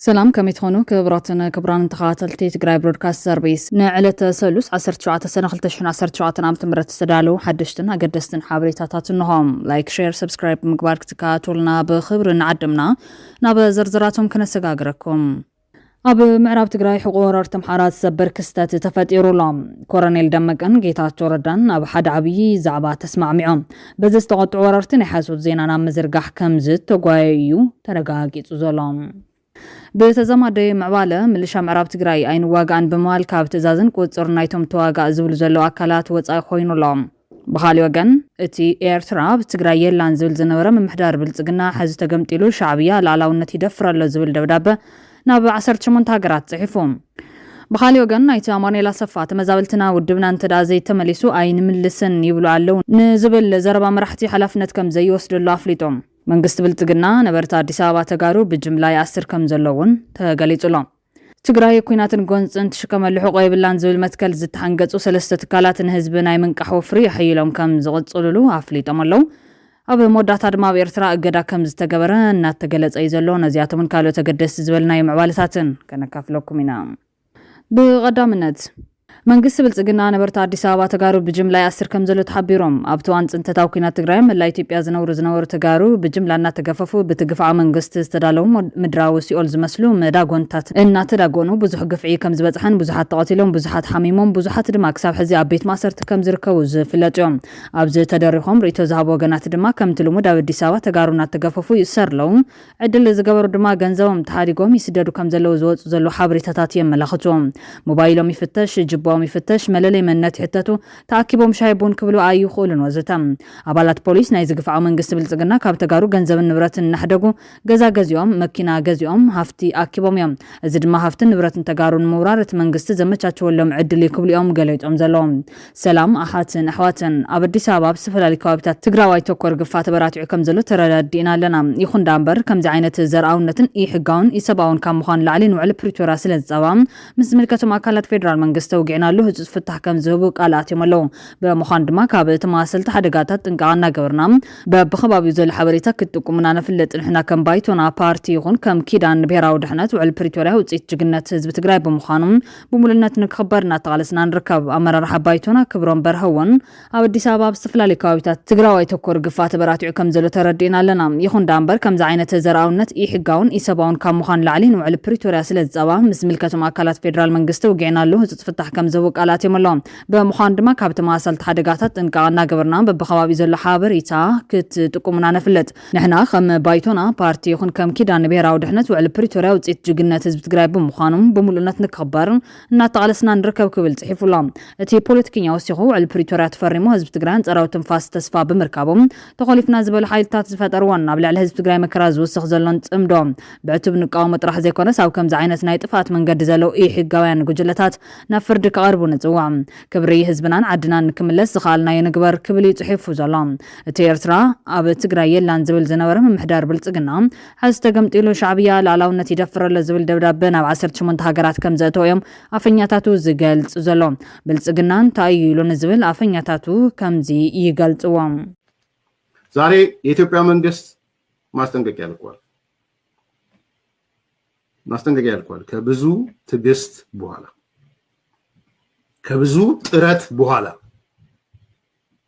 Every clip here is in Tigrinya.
ሰላም ከመይ ትኾኑ ክብራትን ክብራን ተኸታተልቲ ትግራይ ብሮድካስት ሰርቪስ ንዕለተ ሰሉስ 17 ሰነ 2017 ዓ ም ዝተዳለዉ ሓደሽትን ኣገደስትን ሓበሬታታት እንሆም ላይክ ሼር ሰብስክራይብ ብምግባር ክትከታተሉና ብክብሪ ንዓድምና ናብ ዝርዝራቶም ክነሰጋግረኩም ኣብ ምዕራብ ትግራይ ሕቖ ወረርቲ ኣምሓራ ዝሰብር ክስተት ተፈጢሩ ኣሎ። ኮረኔል ደመቀን ጌታቸው ረዳን ኣብ ሓደ ዓብዪ ዛዕባ ተስማዕሚዖም በዚ ዝተቖጥዑ ወረርቲ ናይ ሓሶት ዜና ናብ ምዝርጋሕ ከምዝተጓየዩ እዩ ተረጋጊፁ ዘሎ። ብተዛማዲ ምዕባለ፣ ምልሻ ምዕራብ ትግራይ ኣይንዋጋእን ብምባል ካብ ትእዛዝን ቁፅፅርን ናይቶም ተዋጋእ ዝብሉ ዘለዉ ኣካላት ወፃኢ ኮይኑ ኣሎ። ብኻሊእ ወገን እቲ ኤርትራ ኣብ ትግራይ የላን ዝብል ዝነበረ ምምሕዳር ብልጽግና ሕዚ ተገምጢሉ ሻዕብያ ልኣላውነት ይደፍር ኣሎ ዝብል ደብዳበ ናብ ዓሰርተ ሸሞንተ ሃገራት ጽሒፉ። ብኻሊእ ወገን ኣይተ ኣማኑኤል ኣሰፋ ተመዛበልትና ውድብና እንተድኣ ዘይተመሊሱ ኣይንምልስን ይብሉ ኣለው ንዝብል ዘረባ መራሕቲ ሓላፍነት ከምዘይወስደሉ ኣፍሊጦም። መንግስቲ ብልጽግና ነበርቲ ኣዲስ ኣበባ ተጋሩ ብጅምላ ይኣስር ከምዘሎ እውን ተገሊጹ ኣሎ። ትግራይ ኲናትን ጎንፅን ትሽከመሉ ሕቖ የብላን ዝብል መትከል ዝተሓንገፁ ሰለስተ ትካላት ንህዝቢ ናይ ምንቃሕ ወፍሪ ኣሐይሎም ከም ዝቕፅልሉ ኣፍሊጦም ኣለው። ኣብ መወዳእታ ድማ ኣብ ኤርትራ እገዳ ከም ዝተገበረ እናተገለፀ እዩ ዘሎ። ነዚኣቶምን ካልኦት ኣገደስቲ ዝበልናዮም ምዕባለታትን ከነካፍለኩም ኢና። ብቐዳምነት። መንግስቲ ብልፅግና ነበርቲ ኣዲስ ኣበባ ተጋሩ ብጅምላ ይኣስር ከምዘሎ ተሓቢሮም። ኣብቲ እዋን ፅንተታዊ ኲናት ትግራይ ኣብ መላእ ኢትዮጵያ ዝነብሩ ዝነበሩ ተጋሩ ብጅምላ እናተገፈፉ ብቲ ግፍዓዊ መንግስቲ ዝተዳለዉ ምድራዊ ሲኦል ዝመስሉ መዳጎንታት እናተዳጎኑ ብዙሕ ግፍዒ ከምዝበፅሐን ብዙሓት ተቐቲሎም ብዙሓት ሓሚሞም ብዙሓት ድማ ክሳብ ሕዚ ኣብ ቤት ማእሰርቲ ከምዝርከቡ ዝፍለጡ እዮም። ኣብዚ ተደሪኾም ርኢቶ ዝሃቡ ወገናት ድማ ከምቲ ልሙድ ኣብ ኣዲስ ኣበባ ተጋሩ እናተገፈፉ ይእሰሩ ኣለዉ ዕድል ዝገበሩ ድማ ገንዘቦም ተሃዲጎም ይስደዱ ከምዘለዉ ዝወጹ ዘለዉ ሓበሬታታት የመላኽቱ። ሞባይሎም ይፍተሽ፣ ጅባኦም ይፍተሽ፣ መለለይ መንነት ይሕተቱ፣ ተኣኪቦም ሻሂ ቡን ክብሉ ኣይኽእሉን ወዘተ። ኣባላት ፖሊስ ናይዚ ግፍዓዊ መንግስቲ ብልጽግና ካብ ተጋሩ ገንዘብን ንብረትን እናሕደጉ ገዛ ገዚኦም፣ መኪና ገዚኦም፣ ሃፍቲ ኣኪቦም እዮም። እዚ ድማ ሃፍትን ንብረትን ተጋሩ ንምውራር እቲ መንግስቲ ዘመቻቸወሎም ዕድል እዩ ክብሉ'ዮም ገሊዮም ዘለዉ። ሰላም ኣሓትን ኣሕዋትን! ኣብ ኣዲስ ኣበባ ኣብ ዝተፈላለዩ ከባቢታት ትግራዋይ ተኮር ግፋ ተበራቲዑ ከምዘሎ ተረዳዲእና ኣለና። ይኹን ዳኣምበር ከምዚ ዓይነት ዘርኣውነትን ኢ-ሕጋውን ኢሰብኣውን ካብ ምዃን ንላዕሊ ንውዕሊ ፕሪቶርያ ስለዝፃባእ ምስ ዝምልከቶም ኣካላት ፌደራል መንግስቲ ተውጊዕናሉ ህፁፅ ፍታሕ ከምዝህቡ ቃል ኣትዮም ኣለው። ብምዃኑ ድማ ካብ ተመሳሰልቲ ሓደጋታት ጥንቃቐ እናገበርና በቢከባቢኡ ዘሎ ሓበሬታ ክትጥቁሙ ኢና ነፍልጥ። ንሕና ከም ባይቶና ፓርቲ ይኹን ከም ኪዳን ንብሄራዊ ድሕነት ውዕሊ ፕሪቶርያ ውፅኢት ጅግንነት ህዝቢ ትግራይ ብምዃኑ ብሙሉእነት ንክኽበር እናተቓለስና ንርከብ። ኣመራርሓ ባይቶና ክብሮም በርሀ እውን ኣብ ኣዲስ ኣበባ ኣብ ዝተፈላለዩ ከባቢታት ትግራዋይ ተኮር ግፋ ተበራቲዑ ከምዘሎ ተረዲእና ኣለና። ይኹን ደኣ እምበር ከምዚ ዓይነት ዘርኣውነት ኢሕጋውን ኢሰባውን ካብ ምዃን ንላዕሊ ንውዕሊ ፕሪቶርያ ስለዝፀባ ምስ ዝምልከቶም ኣካላት ፌዴራል መንግስቲ ውጊዕናሉ ህፁፅ ፍታሕ ከምዝህቡ ቃል ኣትዮም ኣለው። ብምዃኑ ድማ ካብ ተመሳሰልቲ ሓደጋታት ጥንቃቐ እናገበርና በቢከባቢኡ ዘሎ ሓበሬታ ክትጥቁሙና ነፍልጥ። ንሕና ከም ባይቶና ፓርቲ ይኹን ከም ኪዳን ንብሄራዊ ድሕነት ውዕሊ ፕሪቶርያ ውፅኢት ጅግነት ህዝቢ ትግራይ ብምዃኑ ብምሉእነት ንክኽበር እናተቓለስና ንርከብ ክብል ፅሒፉ ኣሎ። እቲ ፖለቲከኛ ወሲኹ ውዕሊ ፕሪቶርያ ተፈሪሙ ህዝቢ ትግራይ ኣንፃራዊ ትንፋስ ተስፋ ብምርካቡ ተኾሊፍና ዝበሉ ሓይልታት ዝፈጠርዎን ኣብ ልዕሊ ህዝቢ ትግራይ መከራ ዝውስኽ ዘሎን ፅምዶ ብዕቱብ ንቃወሞ ጥራሕ ዘይኮነስ ኣብ ከምዚ ዓይነት ናይ ጥፍኣት መንገዲ ዘለው ኢሕጋውያን ጉጅለታት ናብ ፍርዲ ክቐርቡ ንፅውዕ። ክብሪ ህዝብናን ዓድናን ንክምለስ ዝኸኣልናዮ ንግበር ክብል እዩ ፅሒፉ ዘሎ። እቲ ኤርትራ ኣብ ትግራይ የላን ዝብል ዝነበረ ምምሕዳር ብልጽግና፣ ሐዚ ተገምጢሉ ሻዕብያ ልኣላውነት ይደፍር ኣሎ ዝብል ደብዳበ ናብ ዓሰርተ ሸሞንተ ሃገራት ከምዘእተወ እዮም ኣፈኛታቱ ዝገልጽ ዘሎ። ብልጽግና እንታይ እዩ ኢሉ ንዝብል ኣፈኛታቱ ከምዚ ይገልጽዎ። ዛሬ የኢትዮጵያ መንግስት ማስጠንቀቂያ ልኳል ማስጠንቀቂያ ልኳል ከብዙ ትግስት በኋላ ከብዙ ጥረት በኋላ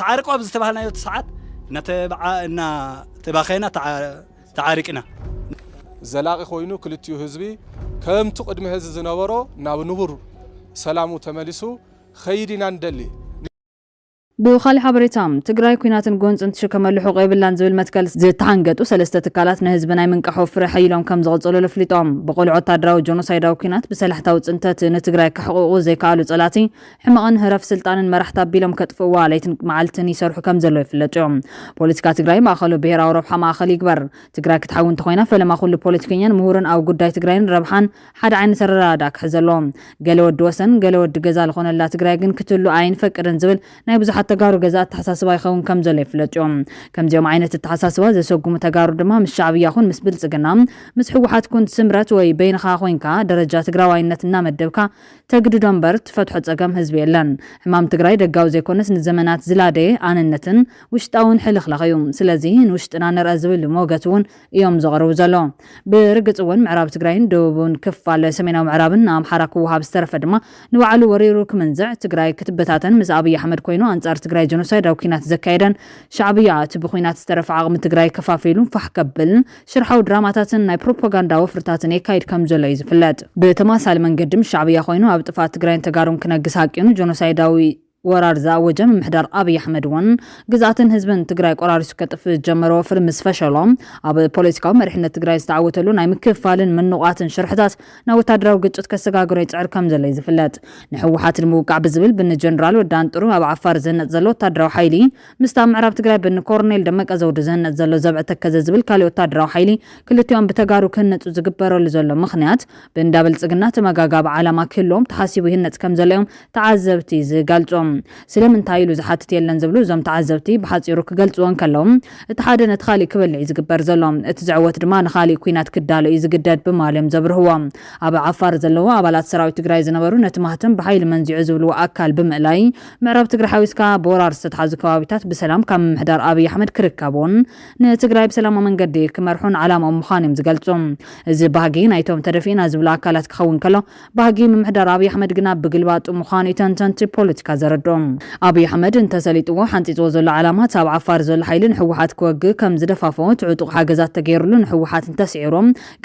ተዓርቁ ኣብ ዝተባሃልናዮ ሰዓት እናተባኸና ተዓሪቅና። ዘላቒ ኮይኑ ክልቲኡ ህዝቢ ከምቱ ቅድሚ ሀዚ ዝነበሮ ናብ ንቡር ሰላሙ ተመሊሱ ክኸይድ ኢና ንደሊ። ብኻሊእ ሓበሬታ፣ ትግራይ ኲናትን ጎንፅን ትሽከመሉ ሕቖ የብላን ዝብል መትከል ዝተሓንገጡ ሰለስተ ትካላት ንህዝቢ ናይ ምንቃሑ ፍረ ሐይሎም ከምዝቕፅሉሉ ኣፍሊጦም። ብቑልዕ ወታደራዊ ጆኖሳይዳዊ ኲናት ብሰላሕታዊ ፅንተት ንትግራይ ከሕቑቑ ዘይከኣሉ ፀላእቲ ሕመቕን ህረፍ ስልጣንን መራሕቲ ኣቢሎም ከጥፍእዋ ለይትን መዓልትን ይሰርሑ ከም ዘለዉ ይፍለጡ እዮም። ፖለቲካ ትግራይ ማእኸሉ ብሄራዊ ረብሓ ማእኸል ይግበር። ትግራይ ክትሓዊ እንተኾይና ፈለማ ኩሉ ፖለቲከኛን ምሁርን ኣብ ጉዳይ ትግራይን ረብሓን ሓደ ዓይነት ኣረዳድኣ ክሕዝ ኣለዎ። ገለ ወዲ ወሰን ገለ ወዲ ገዛ ልኾነላ ትግራይ ግን ክትህሉ ኣይንፈቅድን ዝብል ናይ ብዙሓት ተጋሩ ገዛ ኣተሓሳስባ ይኸውን ከም ዘሎ ይፍለጡ እዮም። ከምዚኦም ዓይነት እተሓሳስባ ዘሰጉሙ ተጋሩ ድማ ምስ ሻዕብያ ኹን ምስ ብልፅግና ምስ ህወሓት ኩን ስምረት ወይ በይንኻ ኾይንካ ደረጃ ትግራዋይነት እናመደብካ ተግድዶ እምበር ትፈትሖ ፀገም ህዝቢ የለን። ሕማም ትግራይ ደጋዊ ዘይኮነስ ንዘመናት ዝላደየ ኣንነትን ውሽጣውን ሕልኽላኽ እዩ። ስለዚ ንውሽጥና ንርኣ ዝብል ሞገት እውን እዮም ዘቕርቡ ዘሎ። ብርግፅ እውን ምዕራብ ትግራይን ደቡብን ክፋል ሰሜናዊ ምዕራብን ንኣምሓራ ክወሃብ ዝተረፈ ድማ ንባዕሉ ወሪሩ ክምንዝዕ ትግራይ ክትበታተን ምስ ኣብይ ኣሕመድ ኮይኑ ኣንፃር ትግራይ ጀኖሳይዳዊ ኩናት ዘካየደን ሻዕብያ እቲ ብኩናት ዝተረፈ ዓቕሚ ትግራይ ከፋፊሉ ፋሕ ከብል ሽርሓዊ ድራማታትን ናይ ፕሮፓጋንዳ ወፍርታትን የካይድ ከምዘሎ'ዩ ዝፍለጥ። ብተመሳሳሊ መንገዲ ምስ ሻዕብያ ኮይኑ ኣብ ጥፍኣት ትግራይን ተጋሩን ክነግስ ሃቂኑ ጆኖሳይዳዊ ወራር ዝኣወጀ ምምሕዳር ኣብይ ኣሕመድ'ውን ግዝኣትን ህዝብን ትግራይ ቆራሪሱ ከጥፍእ ዝጀመሮ ወፍሪ ምስ ፈሸሎ ኣብ ፖለቲካዊ መሪሕነት ትግራይ ዝተዓወተሉ ናይ ምክፍፋልን ምንቛትን ሽርሕታት ናብ ወታደራዊ ግጭት ከሰጋግሮ ይጽዕር ከምዘሎ'ዩ ዝፍለጥ። ንህወሓት ንምውቃዕ ብዝብል ብን ጀነራል ወዲ ኣንጥሩ ኣብ ዓፋር ዝህነጽ ዘሎ ወታደራዊ ሓይሊ ምስቲ ኣብ ምዕራብ ትግራይ ብንኮርኔል ደመቀ ዘውዱ ዝህነፅ ዘሎ ዘብዐ ተከዘ ዝብል ካሊእ ወታደራዊ ሓይሊ ክልቲኦም ብተጋሩ ክህነፁ ዝግበረሉ ዘሎ ምኽንያት ብእንዳ ብልፅግና ተመጋጋቢ ዓላማ ክህልዎም ተሓሲቡ ይህነፅ ከምዘሎ እዮም ተዓዘብቲ ዝገልፁ። ስለምንታይ ኢሉ ዝሓትት የለን ዝብሉ እዞም ተዓዘብቲ ብሓፂሩ ክገልፅዎ እንከለው እቲ ሓደ ነቲ ካሊእ ክበልዕ እዩ ዝግበር ዘሎ እቲ ዝዕወት ድማ ንካሊእ ኲናት ክዳሎ እዩ ዝግደድ ብማል እዮም ዘብርህዎ። ኣብ ዓፋር ዘለዉ ኣባላት ሰራዊት ትግራይ ዝነበሩ ነቲ ማህተም ብሓይሊ መንዚዑ ዝብልዎ ኣካል ብምእላይ ምዕራብ ትግራይ ሓዊስካ ብወራር ዝተትሓዙ ከባቢታት ብሰላም ካብ ምምሕዳር ኣብይ ኣሕመድ ክርከቡን ንትግራይ ብሰላማዊ መንገዲ ክመርሑን ዓላማኦም ምዃኑ እዮም ዝገልፁ። እዚ ባህጊ ናይቶም ተደፊእና ዝብሉ ኣካላት ክኸውን ከሎ ባህጊ ምምሕዳር ኣብይ ኣሕመድ ግና ብግልባጡ ምዃኑ እዩ ተንተንቲ ፖለቲካ ዘረድኡ። ኣብይ ኣሕመድ እንተሰሊጥዎ ሓንፂፅዎ ዘሎ ዓላማ እቲ ኣብ ዓፋር ዘሎ ሓይሊ ንህወሓት ክወግእ ከም ዝደፋፍኦ እቲ ዕጡቕ ሓገዛት ተገይርሉ ንህወሓት እንተስዒሩ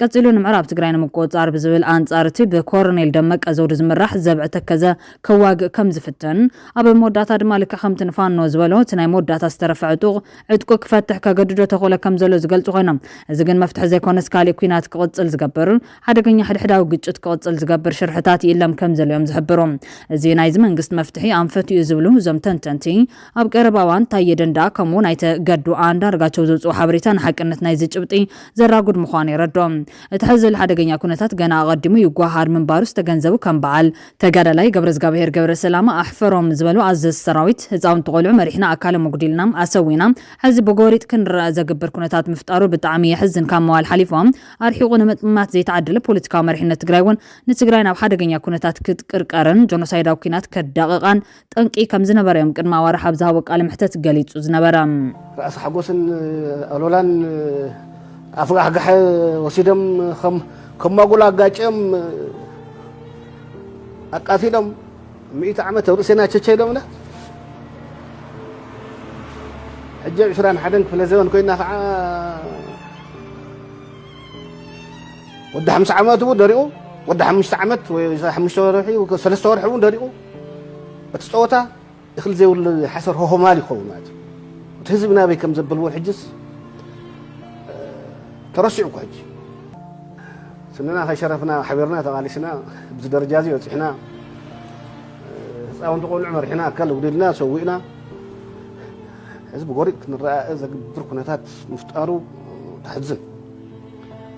ቀፂሉ ንምዕራብ ትግራይ ንምቁፅፃር ብዝብል ኣንፃር እቲ ብኮረኔል ደመቀ ዘውዱ ዝምራሕ ዘብዐ ተከዘ ከዋግእ ከም ዝፍትን፣ ኣብ መወዳእታ ድማ ልክዕ ከምቲ ንፋኖ ዝበሎ እቲ ናይ መወዳእታ ዝተረፈ ዕጡቕ ዕጥቁ ክፈትሕ ከገድዶ ተኽእሎ ከም ዘሎ ዝገልጹ ኮይኖም፣ እዚ ግን መፍትሒ ዘይኮነስ ካልእ ኲናት ክቕጽል ዝገብር፣ ሓደገኛ ሕድሕዳዊ ግጭት ክቕጽል ዝገብር ሽርሕታት ይእለም ከም ዘሎ'ዮም ዝሕብሩ። እዚ ናይዚ መንግስቲ መፍትሒ ኣንፈት'ዩ ዝብሉ እዞም ተንተንቲ፣ ኣብ ቀረባ እዋን ታየ ደንደኣ ከምኡ'ውን ኣይተ ገዱ ኣንዳርጋቸው ዘውጽኡ ሓበሬታ ንሓቅነት ናይዚ ጭብጢ ዘራጉድ ምዃኑ የረድኦ። እቲ ሕዚ ዘሎ ሓደገኛ ኵነታት ገና ኣቐዲሙ ይጓሃሃር ምንባሩ ዝተገንዘቡ ከም በዓል ተጋዳላይ ገብረዝጋብሄር ገብረሰላማ ኣሕፈሮም ዝበሉ ኣዘዝቲ ሰራዊት፣ ህፃውንቲ ቆልዑ መሪሕና ኣካሎም ኣጉዲልና፣ ኣሰዊና፣ ሕዚ ብጎሪጥ ክንረኣ ዘግብር ኩነታት ምፍጣሩ ብጣዕሚ የሕዝን ካብ ምባል ሓሊፎም ኣርሒቑ ንምጥማት ዘይተዓደለ ፖለቲካዊ መሪሕነት ትግራይ እውን ንትግራይ ናብ ሓደገኛ ኩነታት ክትቅርቀርን ጆኖሳይዳዊ ኩናት ከዳቕቓን ጠንቂ ከም ዝነበረ'ዮም ቅድሚ ኣዋርሕ ኣብ ዝሃቦ ቃለ መሕተት ገሊጹ ዝነበረ። ራእሲ ሓጎስን ኣሉላን ኣፍጋሕጋሐ ወሲዶም ከም ማጉል ኣጋጭዮም ኣቃቲሎም ሚእቲ ዓመት ኣብ ርእሴና ቸቸ ኢሎምና ሕጂ ኣብ ዕስራን ሓደን ክፍለ ዘበን ኮይና ከዓ ወዲ ሓምሳ ዓመት እውን ደሪቑ ወዲ ሓሙሽተ ዓመት ወይ ሓሙሽተ ወርሒ ሰለስተ ወርሒ እውን ደሪቑ እቲ ጸወታ እኽሊ ዘይብሉ ሓሰር ሆሆማል ይኸውን ማለት እዩ እቲ ህዝቢ ናበይ ከም ዘብል እውን ሕጅስ ተረሲዑ እኮ ሕጂ ስንና ከይሸረፍና ሓቢርና ተቓሊስና ብዚ ደረጃ እዚ በፂሕና ህፃውንቲ ቆልዑ መሪሕና ኣካል ውዲልና ሰዊእና እዚ ብጎሪጥ ክንረኣእ ዘግብር ኩነታት ምፍጣሩ ተሕዝን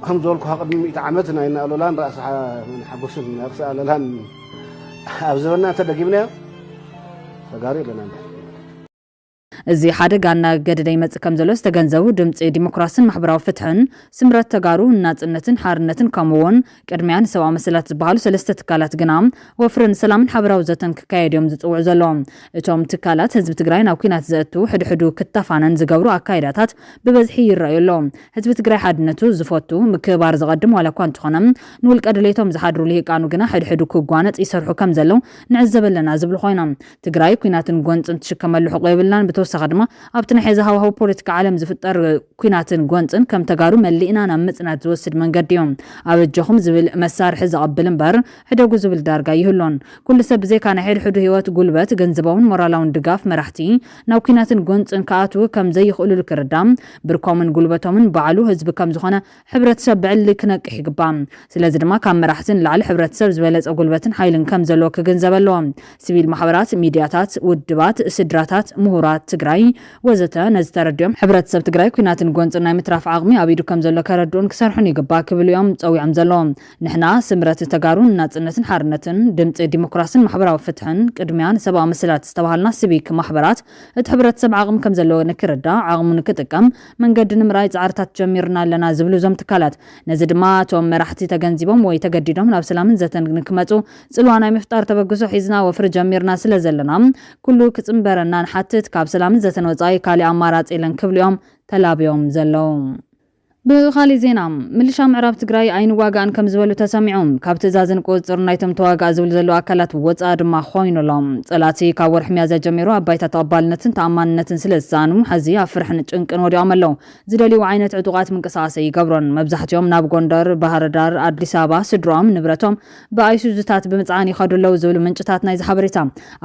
ከም ዝበልኩ ቅድሚ ሚእቲ ዓመት ናይ ናኣሎላን ራእሲ ሓጎስን ርእሲ ኣለላን ኣብ ዝበና እንተ ደጊምናዮ ተጋሩ የለና እንዳ እዚ ሓደጋ እናገደደ ይመጽእ ከም ዘሎ ዝተገንዘቡ ድምፂ ዲሞክራስን ማሕበራዊ ፍትሕን ስምረት ተጋሩ ንናፅነትን ሓርነትን ከምኡ እውን ቅድሚያ ንሰብኣዊ መሰላት ዝበሃሉ ሰለስተ ትካላት ግና ወፍሪ ንሰላምን ሓበራዊ ዘተን ክካየድ እዮም ዝፅውዑ ዘሎ እቶም ትካላት ህዝቢ ትግራይ ናብ ኩናት ዘእቱ ሕድሕዱ ክተፋነን ዝገብሩ ኣካይዳታት ብበዝሒ ይረኣዩ ኣሎ ህዝቢ ትግራይ ሓድነቱ ዝፈቱ፣ ምክብባር ዘቐድም ዋላ እኳ እንተኾነ፣ ንውልቀ ድሌቶም ዝሓድሩ ልሂቃኑ ግና ሕድሕዱ ክጓነፅ ይሰርሑ ከም ዘለው ንዕዘብ ኣለና ዝብሉ ኮይኖም፣ ትግራይ ኩናትን ጎንፅን ትሽከመሉ ሕቆ የብልናን ብተወሳኺ ድማ ኣብቲ ናይ ሐዚ ሃዋህው ፖለቲካ ዓለም ዝፍጠር ኩናትን ጎንፅን ከም ተጋሩ መሊእና ናብ ምፅናት ዝወስድ መንገዲ እዩ ኣበጀኹም ዝብል መሳርሒ ዘቐብል እምበር ሕደጉ ዝብል ዳርጋ ኣይህሉን ኩሉ ሰብ ብዘይካ ናይ ሕድሕዱ ህይወት፣ ጉልበት፣ ገንዘባውን ሞራላውን ድጋፍ መራሕቲ ናብ ኲናትን ጎንፅን ክኣትዉ ከም ዘይኽእሉሉ ክርዳእ፣ ብርኮምን ጉልበቶምን ባዕሉ ህዝቢ ከም ዝኾነ ሕብረተሰብ ብዕሊ ክነቅሕ ይግባእ። ስለዚ ድማ ካብ መራሕቲ ንላዕሊ ሕብረተሰብ ዝበለፀ ጉልበትን ሓይልን ከም ዘለዎ ክግንዘብ ኣለዎ። ስቪል ማሕበራት፣ ሚድያታት፣ ውድባት፣ ስድራታት፣ ምሁራት ትግራይ ወዘተ ነዚ ተረዲኦም ሕብረተሰብ ትግራይ ኲናትን ጎንፅን ናይ ምትራፍ ዓቕሚ ኣብ ኢዱ ከም ዘሎ ከረድኡን ክሰርሑን ይግባእ ክብሉ እዮም ፀዊዖም ዘለዉ። ንሕና ስምረት ተጋሩ ንናጽነትን ሓርነትን፣ ድምጺ ዲሞክራስን ማሕበራዊ ፍትሕን፣ ቅድሚያ ንሰብኣዊ መሰላት ዝተባሃልና ሲቪክ ማሕበራት፣ እቲ ሕብረተሰብ ዓቕሚ ከምዘለዎ ንክርዳእ፣ ዓቕሙ ንክጥቀም መንገዲ ንምርኣይ ጻዕርታት ጀሚርና ኣለና ዝብሉ እዞም ትካላት፣ ነዚ ድማ እቶም መራሕቲ ተገንዚቦም ወይ ተገዲዶም ናብ ሰላምን ዘተን ንክመጹ ጽልዋ ናይ ምፍጣር ተበግሶ ሒዝና ወፍሪ ጀሚርና ስለዘለና ኩሉ ክጽንበረና ንሓትት፣ ካብ ሰላምን ዘተን ወጻኢ ካሊእ ኣማራጺ የለን ክብሉ እዮም ተላብዮም ዘለዉ። ብኻሊእ ዜና ምልሻ ምዕራብ ትግራይ ኣይንዋጋእን ከም ዝበሉ ተሰሚዑ። ካብ ትእዛዝን ቁፅፅርን ናይቶም ተዋጋእ ዝብሉ ዘለዉ ኣካላት ወፃኢ ድማ ኾይኑ ኣሎ። ፀላእቲ ካብ ወርሒ ሚያዝያ ጀሚሩ ኣብ ባይታ ተቐባልነትን ተኣማንነትን ስለ ዝሰኣኑ ሐዚ ኣብ ፍርሕን ጭንቅን ወዲቖም ኣለው። ዝደልይዎ ዓይነት ዕጡቓት ምንቅስቓስ ኣይገብሩን። መብዛሕቲኦም ናብ ጎንደር፣ ባህርዳር፣ ኣዲስ ኣበባ ስድርኦም፣ ንብረቶም ብኣይሱዙታት ብምፅዓን ይኸዱ ኣለው ዝብሉ ምንጭታት ናይዚ ሓበሬታ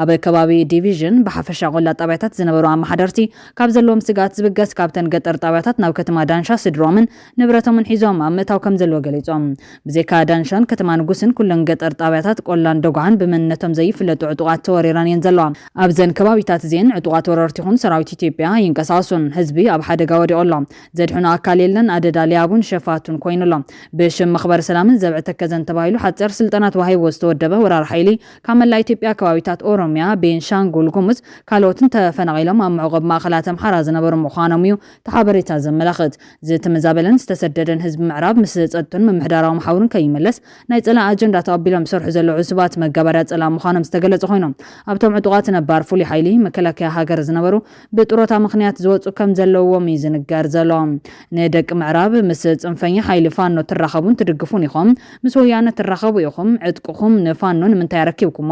ኣብ ከባቢ ዲቪዥን ብሓፈሻ ቆላ ጣብያታት ዝነበሩ ኣማሓደርቲ ካብ ዘለዎም ስግኣት ዝብገስ ካብተን ገጠር ጣብያታት ናብ ከተማ ዳንሻ ስድርኦምን ንብረቶምን ሒዞም ኣብ ምእታው ከምዘለዎ ገሊፆም። ብዘይካ ዳንሻን ከተማ ንጉስን ኩለን ገጠር ጣብያታት ቆላን ደጉዓን ብመንነቶም ዘይፍለጡ ዕጡቓት ተወሪረን እየን ዘለዋ። ኣብዘን ከባቢታት እዚኤን ዕጡቓት ወረርቲ ይኹን ሰራዊት ኢትዮጵያ ኣይንቀሳቐሱን። ህዝቢ ኣብ ሓደጋ ወዲቑ ኣሎ። ዘድሕኖ ኣካል የለን። ኣደዳ ሊያቡን ሸፋቱን ኮይኑ ኣሎ። ብሽም መኽበሪ ሰላምን ዘብዐ ተከዘን ተባሂሉ ሓፂር ስልጠና ተዋሂብዎ ዝተወደበ ወራሪ ሓይሊ ካብ መላእ ኢትዮጵያ ከባቢታት ኦሮሚያ፣ ቤንሻንጉል ጉሙዝ ካልኦትን ተፈናቒሎም ኣብ መዕቖቢ ማእኸላት ኣምሓራ ዝነበሩ ምዃኖም እዩ እቲ ሓበሬታ ዘመላኽት። ዝተመዛበለን ዝተሰደደን ህዝቢ ምዕራብ ምስ ፀጥቱን ምምሕዳራዊ መሓውሩን ከይምለስ ናይ ፀላኢ ኣጀንዳ ተቐቢሎም ዝሰርሑ ዘለዉ ዕሱባት መጋባርያ ፀላኢ ምዃኖም ዝተገለፁ ኮይኖም ኣብቶም ዕጡቓት ነባር ፍሉይ ሓይሊ መከላከያ ሃገር ዝነበሩ ብጥሮታ ምኽንያት ዝወጹ ከም ዘለዉዎም እዩ ዝንገር ዘሎ። ንደቂ ምዕራብ ምስ ጽንፈኛ ሓይሊ ፋኖ ትራኸቡን ትድግፉን ኢኹም፣ ምስ ወያነ ትራኸቡ ኢኹም፣ ዕጥቅኹም ንፋኖ ንምንታይ ኣረኪብኩሞ፣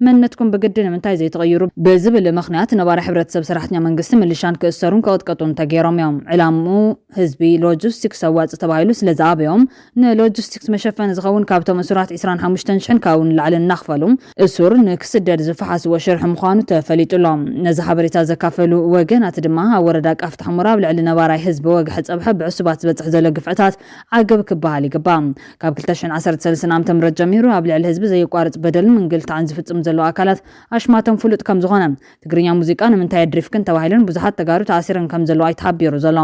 መንነትኩም ብግዲ ንምንታይ ዘይትቕይሩ፣ ብዝብል ምኽንያት ነባሪ ሕብረተሰብ ሰራሕተኛ መንግስቲ ምልሻን ክእሰሩን ክቕጥቀጡን ተገይሮም እዮም። ዕላምኡ ህዝቢ ሎጂስቲክስ ኣዋጺ ተባሂሉ ስለ ዝኣበዮም፣ ንሎጂስቲክስ መሸፈኒ ዝኸውን ካብቶም እሱራት ዕስራን ሓሙሽተን ሽሕን ካብኡ ንላዕሊ እናኽፈሉ እሱር ንክስደድ ዝፈሓስዎ ሽርሒ ምዃኑ ተፈሊጡ ኣሎ። ነዚ ሓበሬታ ዘካፈሉ ወገናት ድማ ኣብ ወረዳ ቃፍታ ሕሞራ ኣብ ልዕሊ ነባራይ ህዝቢ ወግሐ ፀብሐ ብዕሱባት ዝበፅሕ ዘሎ ግፍዕታት ዓገብ ክበሃል ይግባእ። ካብ ክልተ ሽሕን ዓሰርተ ሰለስተን ዓመተ ምህረት ጀሚሩ ኣብ ልዕሊ ህዝቢ ዘየቋርፅ በደልን ምንግልታዕን ዝፍፅሙ ዘለዉ ኣካላት ኣሽማቶም ፍሉጥ ከምዝኾነ ትግርኛ ሙዚቃ ንምንታይ ኣድሪፍክን ተባሂሉን ብዙሓት ተጋሩ ተኣሲረን ከምዘለዋ እዩ ተሓቢሩ ዘሎ።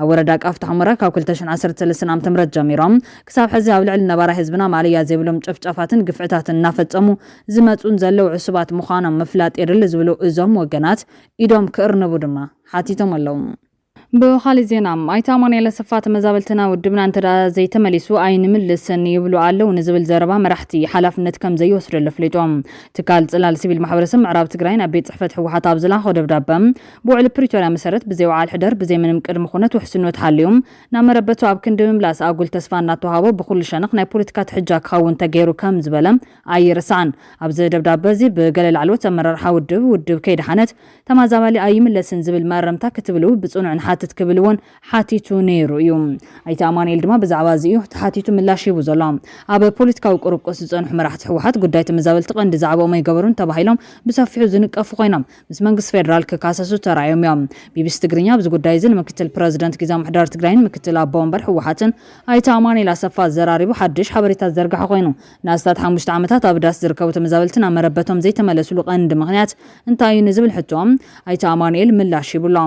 ኣብ ወረዳ ቃፍታ ሑመራ ካብ ክልተ ሽሕን ዓሰርተ ሰለስተን ዓመተ ምህረት ጀሚሮም ክሳብ ሕዚ ኣብ ልዕሊ ነባራይ ህዝብና ማእለያ ዘይብሎም ጨፍጫፋትን ግፍዕታትን እናፈፀሙ ዝመፁን ዘለዉ ዕሱባት ምዃኖም ምፍላጥ የድሊ ዝብሉ እዞም ወገናት ኢዶም ክእርንቡ ድማ ሓቲቶም ኣለዉ። ብኻሊእ ዜና ኣይተ ኣማኑኤል ኣሰፋ ተመዛበልቲ ናብ ውድብና እንተ ዘይተመሊሱ ኣይንምልስን ይብሉ ኣለው ንዝብል ዘረባ መራሕቲ ሓላፍነት ከም ዘይወስደሉ ኣፍሊጡ። ትካል ፅላል ሲቪል ማሕበረሰብ ምዕራብ ትግራይ ናብ ቤት ፅሕፈት ህወሓት ኣብ ዝላኣኾ ደብዳበ ብውዕሊ ፕሪቶርያ መሰረት ብዘይ ውዓል ሕደር ብዘይ ምንም ቅድሚ ኩነት ውሕስኖት ሓልዩ ናብ መረበቱ ኣብ ክንዲ ምምላስ ኣጉል ተስፋ እናተውሃቦ ብኹሉ ሸነኽ ናይ ፖለቲካ ትሕጃ ክኸውን ተገይሩ ከም ዝበለ ኣይርሳዕን። ኣብዚ ደብዳበ እዚ ብገለ ላዕለዎት ኣመራርሓ ውድብ፣ ውድብ ከይደሓነት ተማዛባሊ ኣይምለስን ዝብል መእረምታ ክትብሉ ብጽኑዕ ንሓትት ክብል እውን ሓቲቱ ነይሩ እዩ። ኣይተ ኣማኑኤል ድማ ብዛዕባ እዚ እዩ ተሓቲቱ ምላሽ ሂቡ ዘሎ። ኣብ ፖለቲካዊ ቁርቁስ ዝጸንሑ መራሕቲ ህወሓት ጉዳይ ተመዛበልቲ ቀንዲ ዛዕባኦም ኣይገበሩን ተባሂሎም ብሰፊሑ ዝንቀፉ ኮይኖም ምስ መንግስቲ ፌደራል ክካሰሱ ተራእዮም እዮም። ቢቢሲ ትግርኛ ኣብዚ ጉዳይ እዚ ንምክትል ፕረዚደንት ጊዝያዊ ምሕዳር ትግራይን ምክትል ኣቦ ወንበር ህወሓትን ኣይተ ኣማኑኤል ኣሰፋ ዘራሪቡ ሓድሽ ሓበሬታ ዝዘርገሐ ኮይኑ ንኣስታት ሓሙሽተ ዓመታት ኣብ ዳስ ዝርከቡ ተመዛበልቲ ናብ መረበቶም ዘይተመለስሉ ቀንዲ ምኽንያት እንታይ እዩ ንዝብል ሕቶ ኣይተ ኣማኑኤል ምላሽ ሂቡ'ሎ።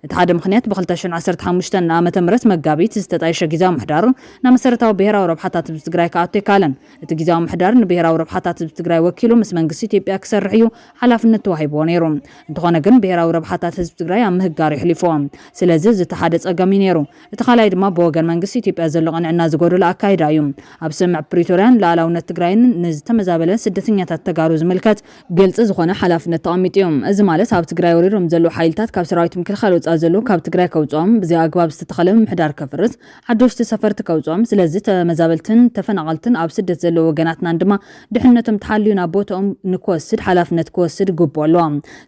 እቲ ሓደ ምኽንያት ብ ክልተ ሽሕን ዓሰርተ ሓሙሽተን ዓመተ ምህረት መጋቢት ዝተጣየሸ ጊዚያዊ ምሕዳር ናብ መሰረታዊ ብሄራዊ ረብሓታት ህዝቢ ትግራይ ክኣቱ ኣይከኣለን። እቲ ጊዚያዊ ምሕዳር ንብሄራዊ ረብሓታት ህዝቢ ትግራይ ወኪሉ ምስ መንግስቲ ኢትዮጵያ ክሰርሕ እዩ ሓላፍነት ተዋሂብዎ ነይሩ። እንተኾነ ግን ብሄራዊ ረብሓታት ህዝቢ ትግራይ ኣብ ምህጋር የሕሊፍዎ። ስለዚ እዚ እቲ ሓደ ፀገም እዩ ነይሩ። እቲ ካልኣይ ድማ ብወገን መንግስቲ ኢትዮጵያ ዘሎ ቅንዕና ዝጎደሎ ኣካይዳ እዩ። ኣብ ስምምዕ ፕሪቶርያን ልኣላውነት ትግራይን ንዝተመዛበለ ስደተኛታት ተጋሩ ዝምልከት፣ ግልፂ ዝኾነ ሓላፍነት ተቐሚጡ እዩ። እዚ ማለት ኣብ ትግራይ ወሪሮም ዘለዉ ሓይልታት ካብ ሰራዊት ምክልኻል ወፃኢ ዘለዉ ካብ ትግራይ ከውፅኦም፣ ብዘይ ኣግባብ ዝተተኸለ ምምሕዳር ከፍርስ፣ ሓደሽቲ ሰፈርቲ ከውፅኦም፣ ስለዚ ተመዛበልትን ተፈናቐልትን ኣብ ስደት ዘለዉ ወገናትናን ድማ ድሕነቶም ተሓልዩ ናብ ቦትኦም ንክወስድ ሓላፍነት ክወስድ ግቡእ ኣለዎ።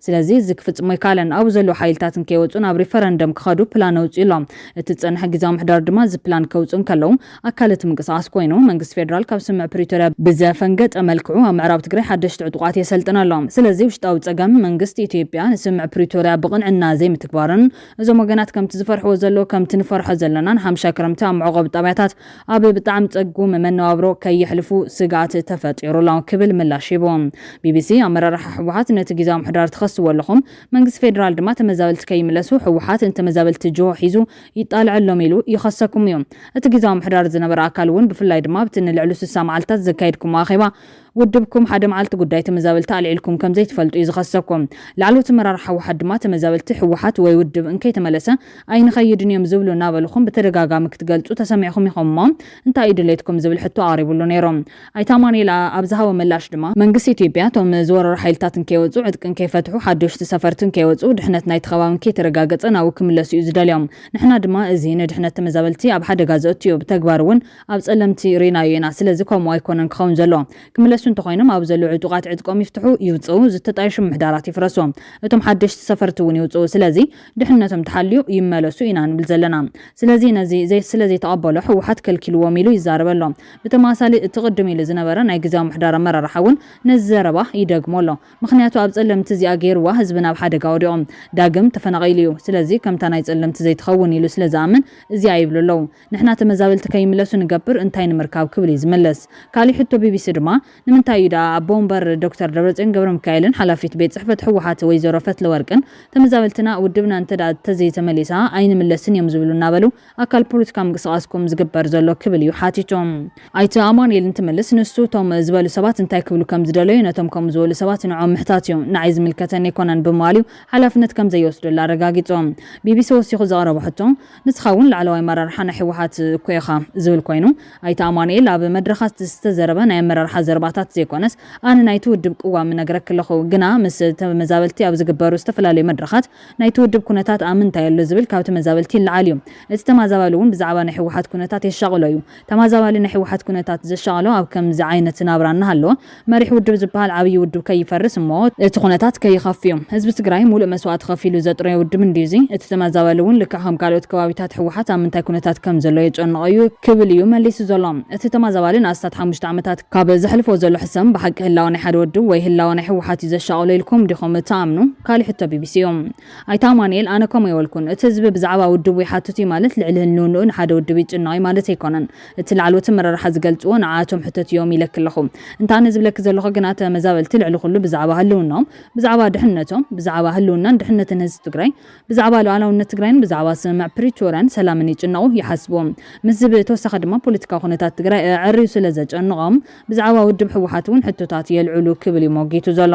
ስለዚ እዚ ክፍጽሞ ኣይከኣለን። ኣብኡ ዘለዉ ሓይልታት እንከይወጹ ናብ ሪፈረንደም ክኸዱ ፕላን ኣውጺኡ ኣሎ። እቲ ዝጸንሐ ግዝያዊ ምሕዳር ድማ እዚ ፕላን ከውጽኡ እንከለዉ ኣካል እቲ ምንቅስቓስ ኮይኑ፣ መንግስቲ ፌደራል ካብ ስምምዕ ፕሪቶርያ ብዘፈንገጠ መልክዑ ኣብ ምዕራብ ትግራይ ሓደሽቲ ዕጡቓት የሰልጥን ኣሎ። ስለዚ ውሽጣዊ ጸገም መንግስቲ ኢትዮጵያ ንስምምዕ ፕሪቶርያ ብቕንዕና ዘይምትግባሩን እዞም ወገናት ከምቲ ዝፈርሕዎ ዘለዉ ከምቲ ንፈርሖ ዘለናን ሓምሻይ ክረምቲ ኣብ መዕቖቢ ጣብያታት ኣብ ብጣዕሚ ጸጉም መነባብሮ ከየሕልፉ ስግኣት ተፈጢሩ ኣሎ ክብል ምላሽ ሂቡ። ቢቢሲ፣ ኣመራርሓ ህወሓት ነቲ ጊዚያዊ ምሕዳር ትኸስዎ ኣለኹም፣ መንግስቲ ፌደራል ድማ ተመዛበልቲ ከይምለሱ ህወሓት ንተመዛበልቲ ጅሆ ሒዙ ይጣልዐሎም ኢሉ ይኸሰኩም እዩ። እቲ ጊዚያዊ ምሕዳር ዝነበረ ኣካል እውን ብፍላይ ድማ ኣብቲ ንልዕሉ ስሳ መዓልታት ዘካየድኩሞ ኣኼባ፣ ውድብኩም ሓደ መዓልቲ ጉዳይ ተመዛበልቲ ኣልዒልኩም ከምዘይትፈልጡ እዩ ዝኸሰኩም። ላዕለዎት ኣመራርሓ ህወሓት ድማ ተመዛበልቲ ህወሓት ወይ ውድብ እንከይተመለሰ ኣይንኸይድን እዮም ዝብሉ እናበልኹም ብተደጋጋሚ ክትገልፁ ተሰሚዕኹም ኢኹም እሞ እንታይ እዩ ድሌትኩም ዝብል ሕቶ ኣቕሪብሉ ነይሩ። ኣይተ ኣማኑኤል ኣብ ዝሃቦ ምላሽ ድማ፣ መንግስቲ ኢትዮጵያ እቶም ዝወረሩ ሓይልታት እንከይወፁ፣ ዕጥቂ እንከይፈትሑ፣ ሓደሽቲ ሰፈርቲ እንከይወፁ፣ ድሕነት ናይቲ ከባቢ እንከይተረጋገፀ ናብኡ ክምለሱ እዩ ዝደልዮም። ንሕና ድማ እዚ ንድሕነት ተመዛበልቲ ኣብ ሓደጋ ዘእቱ እዩ፣ ብተግባር እውን ኣብ ጸለምቲ ሪኢናዮ ኢና ስለዚ ከምኡ ኣይኮነን ክኸውን ዘለዎ ክምለሱ እንተኾይኖም ኣብኡ ዘለዉ ዕጡቃት ዕጥቆም ይፍትሑ ይውጽኡ ዝተጣየሹ ምሕዳራት ይፍረሱ እቶም ሓደሽቲ ሰፈርቲ ውን ይውጽኡ ስለዚ ድሕንነቶም ተሓልዩ ይመለሱ ኢና ንብል ዘለና ስለዚ ነዚ ስለዘይተቀበሎ ህወሓት ከልኪልዎም ኢሉ ይዛረብ ኣሎ ብተመሳሳሊ እቲ ቅድም ኢሉ ዝነበረ ናይ ግዝያዊ ምሕዳር ኣመራርሓ ውን ነዚ ዘረባ ይደግሞ ኣሎ ምኽንያቱ ኣብ ጸለምቲ እዚኣ ገይርዋ ህዝብና ኣብ ሓደጋ ወዲቁ ዳግም ተፈናቂሉ እዩ ስለዚ ከምታ ናይ ጸለምቲ ዘይትኸውን ኢሉ ስለዝኣምን እዚኣ ይብሉ ኣለዉ ንሕና ተመዛበልቲ ከይምለሱ ንገብር እንታይ ንምርካብ ክብል እዩ ዝምልስ። ካሊእ ሕቶ ቢቢሲ ድማ ንምንታይ እዩ ደኣ ኣቦ ወንበር ዶክተር ደብረፅዮን ገብረሚካኤልን ሓላፊት ቤት ፅሕፈት ህወሓት ወይዘሮ ፈትለወርቅን ተመዛበልትና ውድብና እንተደኣ ተዘይተመሊሳ ኣይንምለስን እዮም ዝብሉ እናበሉ ኣካል ፖለቲካዊ ምንቅስቓስኩም ዝግበር ዘሎ ክብል እዩ ሓቲቱ። ኣይተ ኣማኑኤል እንትምልስ ንሱ እቶም ዝበሉ ሰባት እንታይ ክብሉ ከም ዝደለዩ ነቶም ከምኡ ዝበሉ ሰባት ንዕኦም ምሕታት እዩ፣ ንዓይ ዝምልከተኒ ኣይኮነን ብምባል እዩ ሓላፍነት ከም ዘይወስደሉ ኣረጋጊፁ። ቢቢሲ ወሲኹ ዘቕረቦ ሕቶ፣ ንስኻ እውን ላዕለዋይ ኣመራርሓ ናይ ህወሓት እኮ ኢኻ ዝብል ኮይኑ ኣይተ ኣማኑኤል ኣብ መድረኻት ዝተዘረበ ናይ ኣመራርሓ ዘረባታት ዘይኮነስ ኣነ ናይቲ ውድብ ቅዋም እነግረኪ ኣለኹ ግና ምስ ተመዛበልቲ ኣብ ዝግበሩ ዝተፈላለዩ መድረኻት ናይቲ ውድብ ኩነታት ኣምንታይ ኣሎ ዝብል ካብ ተመዛበልቲ ይለዓል እዩ እቲ ተማዛባሊ እውን ብዛዕባ ናይ ህወሓት ኩነታት የሻቕሎ እዩ ተማዛባሊ ናይ ህወሓት ኩነታት ዘሻቐሎ ኣብ ከምዚ ዓይነት ናብራ እናሃለወ መሪሕ ውድብ ዝበሃል ዓብዪ ውድብ ከይፈርስ እሞ እቲ ኩነታት ከይኸፍእ'ዩ። ህዝቢ ትግራይ ሙሉእ መስዋእቲ ከፊሉ ዘጥረዮ ውድብ እንድዩ እዚ። እቲ ተማዛባሊ እውን ልክዕ ከም ካልኦት ከባቢታት ህወሓት ኣብ ምንታይ ኩነታት ከም ዘሎ የጨንቖ እዩ ክብል እዩ መሊሱ ዘሎ። እቲ ተማዛባሊ ንኣስታት ሓሙሽተ ዓመታት ካብ ዘሕልፎ ዘሎ ሕሰም ብሓቂ ህላወ ናይ ሓደ ወድብ ወይ ህላወ ናይ ህወሓት እዩ ዘሻቐሎ ኢልኩም ዲኹም እትኣምኑ? ካሊእ ሕቶ ቢቢሲ እዩ። ኣይተ ኣማኑኤል፣ ኣነ ከምኡ ኣይበልኩን። እቲ ህዝቢ ብዛዕባ ውድቡ ይሓትት እዩ ማለት ልዕሊ ህልንውንኡ ንሓደ ውድብ ይጭነቕ እዩ ማለት ኣይኮነን። እቲ ላዕለዎት ኣመራርሓ ዝገልጽዎ ንዓኣቶም ሕተት እዮም ኢለኪ ኣለኹ። እንተ ኣነ ዝብለኪ ዘለኹ ግና ተመዛበልቲ ልዕሊ ኩሉ ብዛዕባ ህልውናኦም፣ ብዛዕባ ድሕነቶም፣ ብዛዕባ ህልውናን ድሕነትን ህዝቢ ትግራይ፣ ብዛዕባ ሉኣላውነት ትግራይን ብዛዕባ ስምምዕ ፕሪቶርያን ሰላምን ይጭነቑ፣ ይሓስቡ። ምስ ዝብኢ ተወሳኺ ድማ ፖለቲካዊ ኩነታት ትግራይ ኣዐርዩ ስለዘጨንቖም ብዛዕባ ውድብ ህወሓት እውን ሕቶታት የልዕሉ ክብል እዩ ሞጊቱ ዘሎ።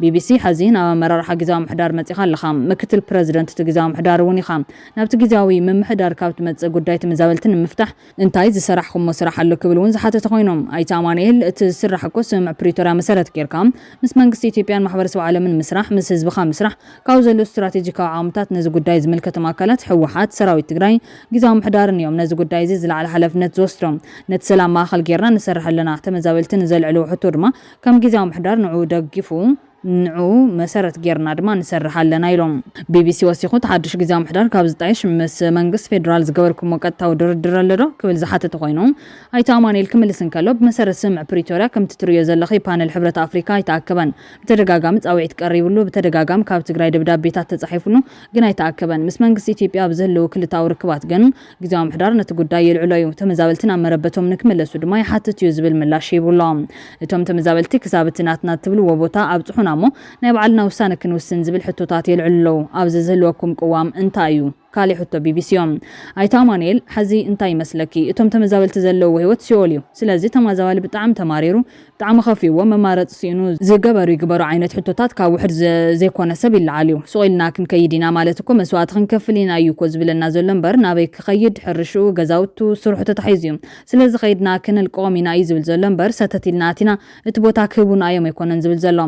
ቢቢሲ፣ ሐዚ ናብ ኣመራርሓ ግዝያዊ ምሕዳር መፂእኻ ኣለኻ። ምክትል ፕረዚደንት እቲ ግዝያዊ ምሕዳር እውን ኢኻ። ናብቲ ግዝያዊ ምምሕዳር ካብ ትመፅእ ጉዳይ ተመዛበልቲ ንምፍታሕ፣ እንታይ ዝሰራሕኹሞ ስራሕ ኣሎ ክብል እውን ዝሓተተ ኮይኑ፣ ኣይተ ኣማኑኤል እቲ ዝስራሕ እኮ ስምምዕ ፕሪቶርያ መሰረት ገይርካ ምስ መንግስቲ ኢትዮጵያን ማሕበረሰብ ዓለምን ምስራሕ፣ ምስ ህዝብኻ ምስራሕ፣ ካብ ዘሎ ስትራቴጂካዊ ዓቕምታት ነዚ ጉዳይ ዝምልከቶም ኣካላት ህወሓት፣ ሰራዊት ትግራይ፣ ጊዚያዊ ምሕዳርን እዮም ነዚ ጉዳይ እዚ ዝለዓለ ሓላፍነት ዝወስዶ። ነቲ ሰላም ማእኸል ገይርና ንሰርሕ ኣለና። ተመዛበልቲ ንዘልዕልዎ ሕቶ ድማ ከም ጊዚያዊ ምሕዳር ንዕኡ ደጊፉ፣ ንዕኡ መሰረት ገይርና ድማ ንሰርሕ ኣለና ኢሎም። ቢቢሲ ወሲኹ እቲ ሓዱሽ ጊዚያዊ ምሕዳር ካብ ዝጣየሽ ምስ መንግስቲ ፌዴራል ዝገበርኩምዎ ቀጥታዊ ድርድር ኣሎ ዶ? ክብል ዝሓተተ ኮይኑ ኣይተ ኣማኑኤል ክምልስ እንከሎ ብመሰረት ስምምዕ ፕሪቶርያ ከምቲ ትርእዮ ዘለኺ ፓነል ሕብረት ኣፍሪካ ኣይተኣከበን። ብተደጋጋሚ ፃውዒት ቀሪብሉ፣ ብተደጋጋሚ ካብ ትግራይ ደብዳቤታት ተፃሒፍሉ ግን ኣይተኣከበን። ምስ መንግስቲ ኢትዮጵያ ኣብ ዝህልው ክልተኣዊ ርክባት ግን ግዝያዊ ምሕዳር ነቲ ጉዳይ የልዕሎ እዩ። ተመዛበልቲ ናብ መረበቶም ንክመለሱ ድማ ይሓትት እዩ ዝብል ምላሽ ሂቡ ኣሎ። እቶም ተመዛበልቲ ክሳብ እቲ ናትና እትብልዎ ቦታ ኣብፅሑና እሞ ናይ ባዕልና ውሳነ ክንውስን ዝብል ሕቶታት የልዕሉ ኣለው። ኣብዚ ዝህልወኩም ቅዋም እንታይ እዩ? ካሊእ ሕቶ ቢቢሲ ዮም ኣይተ ኣማኑኤል ሐዚ እንታይ ይመስለኪ እቶም ተመዛበልቲ ዘለውዎ ሂወት ሲኦል ዩ ስለዚ ተማዛባሊ ብጣዕሚ ተማሪሩ ብጣዕሚ ከፊእዎ መማረፂ ሲኢኑ ዝገበሩ ይግበሮ ዓይነት ሕቶታት ካብ ውሕድ ዘይኮነ ሰብ ይለዓል ዩ ሱቅ ኢልና ክንከይድ ኢና ማለት እኮ መስዋእቲ ክንከፍል ኢና እዩ እኮ ዝብለና ዘሎ እምበር ናበይ ክከይድ ሕርሽኡ ገዛውቱ ስርሑ ተታሒዙ ዩ ስለዚ ከይድና ክነልቅቆም ኢና እዩ ዝብል ዘሎ እምበር ሰተት ኢልና ኣቲና እቲ ቦታ ክህቡና እዮም ኣይኮነን ዝብል ዘሎ።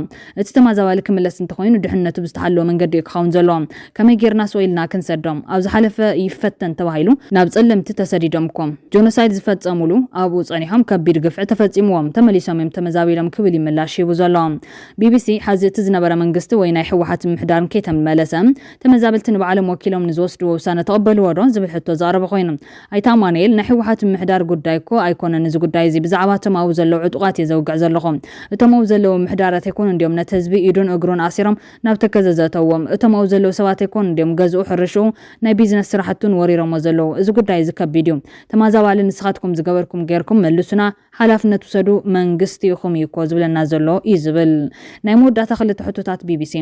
እቲ ተማዛባሊ ክምለስ እንተኾይኑ ድሕንነቱ ብዝተሓለወ መንገዲ እዩ ክኸውን ዘለዎ። ከመይ ጌርና ስቕ ኢልና ክንሰዶም? ኣብ ዝሓለፈ ይፈተን ተባሂሉ ናብ ጸለምቲ ተሰዲዶም እኮ። ጆኖሳይድ ዝፈጸሙሉ ኣብኡ ጸኒሖም ከቢድ ግፍዒ ተፈጺምዎም ተመሊሶም እዮም ተመዛቢሎም ክብል እዩ ምላሽ ሂቡ ዘሎ። ቢቢሲ ሐዚ እቲ ዝነበረ መንግስቲ ወይ ናይ ህወሓት ምምሕዳርን ከይተመለሰ ተመዛበልቲ ንባዕሎም ወኪሎም ንዝወስድዎ ውሳነ ተቐበልዎ ዶ? ዝብል ሕቶ ዘቕረበ ኮይኑ፣ ኣይተ ኣማኑኤል፣ ናይ ህወሓት ምምሕዳር ጉዳይ እኮ ኣይኮነን እዚ ጉዳይ እዚ፣ ብዛዕባ እቶም ኣብኡ ዘለዉ ዕጡቓት እየ ዘውግዕ ዘለኹ። እቶም ኣብኡ ዘለዉ ምምሕዳራት ኣይኮኑን ድዮም ነቲ ህዝቢ ኢዱን እግሩን ኣሲሮም ናብ ተከዘ ዘእተውዎም? እቶም ኣብኡ ዘለዉ ሰባት ኣይኮኑን ድዮም ገዝኡ፣ ሕርሽኡ፣ ናይ ቢዝነስ ስራሕቱን ወሪሮሞ ዘለዉ? እዚ ጉዳይ እዚ ከቢድ እዩ። ተማዛባሊ ንስኻትኩም ዝገበርኩም ገይርኩም መልሱና። ሓላፍነት ውሰዱ መንግስቲ ኢኹም እዩ እኮ ዝብለና ዘሎ እዩ ዝብል ናይ መወዳእታ ክልተ ሕቶታት ቢቢሲ።